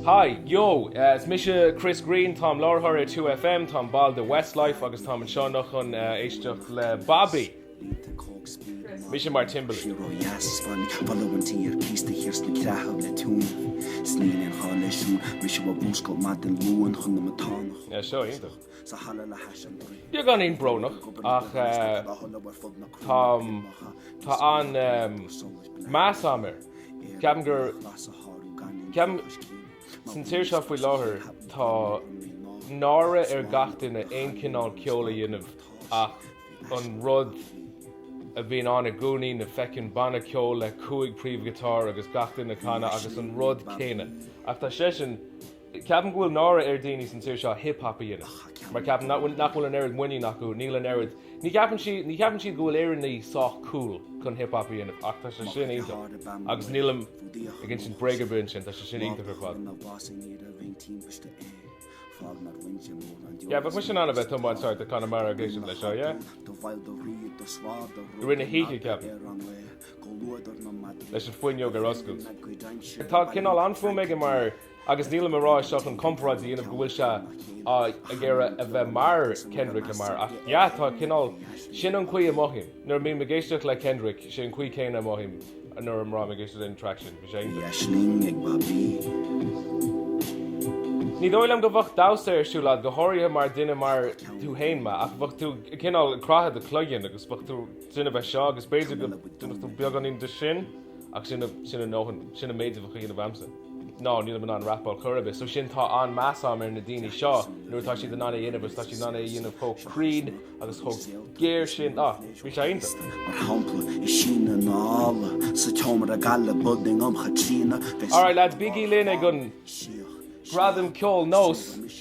Hi, yo! Is mise Chris Greene, táim láithreoir ar 2FM, táim ball de Westlife agus táim anseo anocht chun éisteacht le Bobby. Mise mar Timberlake. Sean-nós deas is bhain ballaí an tí ar cíos de shíor ag creathadh le tiúin. Is níl aon ghá leis siúl, mise bhog múscailt maith den Luan chun na matánach. Seo iontach. sa halla le hais an dúin. Beagáinín brónach, ach tá tá an meas am air. Ceapaim gur ceapaim san tír seo faoi láthair tá náire ar gach duine aon cineál ceoil a dhéanamh ach an rud a bhíonn ann i gcónaí, na feckin' banna ceoil le cúig príomhghiotáir agus gach duine ag canadh agus an rud céanna ach tá seisean Ceapaim go bhfuil náire ar daoine san tír seo hip-hop a dhéanamh mar ceapaim nach bhfuil nach bhfuil an oiread muinín acu, níl an oiread, ní cheapann sí, ní cheapann siad go bhfuil Éireannaí sách cool chun hip-hop a dhéanamh ach tá sé sin iontach agus nílim ag insint bréag ar bith ansin, tá sé sin iontach ar fad. Yeah, bheadh mise in ann a bheith ag tiomáint thart i Conamara ag éisteacht leis seo, yeah. I rith na hoíche, ceapaim. Leis an fuinneog ar oscailt. Tá cineál an-fhuaim aige mar Agus nílim a rá é seo chun comparáid a dhéanamh go bhfuil sé ag iarraidh a bheith mar Kendrick Lamar ach yeah, tá, cineál sin an chaoi a mothaím nuair a mbím ag éisteacht le Kendrick, sé an chaoi céanna a mothaím nuair a mbím ag éisteacht leis an traic sin. Bhí sé iontach. Aisling ag Bobby. Ní dóigh liom go bheadh damhsa ar siúl a'd, go háirithe mar dhuine mar thú fhéin, man, ach bheadh tú cineál ag croitheadh do chloiginn agus bheadh tú in ann a bheith seo agus b'fhéidir go ndéanfadh tú beagáinín de sin ach sin a dhóthain, sin an méid a bheadh a dhéanamh a'msa. No, nílim in ann rapáil chor ar bith, so sin tá an-meas agam ar na daoine seo nuair atá siad in ann é a dhéanamh agus tá siad in ann é a dhéanamh chomh cruinn agus chomh géar sin. Á, bhí sé iontach! Mar shampla, i Sín na nDall, sa tseomra gaile Budding um Chaitríona, bheadh Alright lads, bígí linn ag an Gradam Ceoil NÓS.